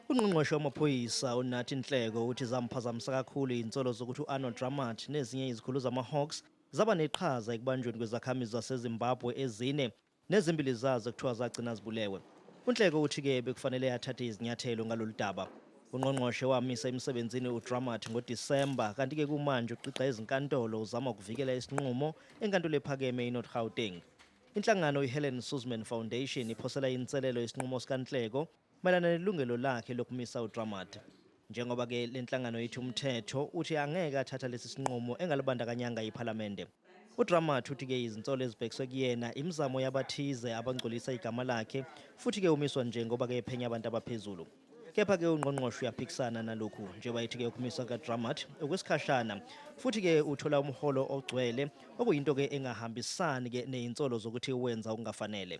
Ungqongqoshe wamaphoyisa uNathi Nhleko uthi zamphazamisa kakhulu izinsolo zokuthi u-Arnold Dramat nezinye izikhulu zamaHawks zaba neqhaza ekubanjweni kwezakhamizi zaseZimbabwe ezine Nezimbili zazo kuthiwa zagcina zibulewe. UNhleko uthi ke bekufanele athathe izinyathelo ngalolu daba. Ungqongqoshe wamisa emsebenzini uDramat ngoDisemba kanti ke kumanje uqiqa ezinkantolo uzama ukuvikela isinqumo eNkantolo ePhakeme iNorth Gauteng. Inhlangano iHelen Suzman Foundation iphosela inselelo isinqumo sikaNhleko Mayelana nelungelo lakhe lokumisa uDramat, njengoba ke le nhlangano ithi umthetho uthi angeke athatha lesi sinqumo engalibandakanyanga iPhalamende. UDramat uthi ke izinsolo ezibhekiswe kuyena imizamo yabathize abangcolisa igama lakhe futhi ke umiswa nje ngoba ke ephenya abantu abaphezulu. Kepha ke ungqongqoshe uyaphikisana nalokhu njengoba ethi ke ukumiswa kukaDramat okwesikhashana futhi ke uthola umholo ogcwele okuyinto ke engahambisani ke nezinsolo zokuthi wenza okungafanele.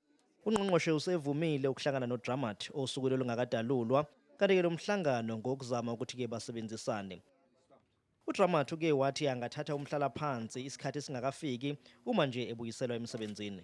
Ungqongqoshe usevumile ukuhlangana noDramat osukwini olungakadalulwa, kanti-ke lo mhlangano ngokuzama ukuthi-ke basebenzisane. UDramat uke wathi angathatha umhlalaphansi isikhathi singakafiki uma nje ebuyiselwa emsebenzini.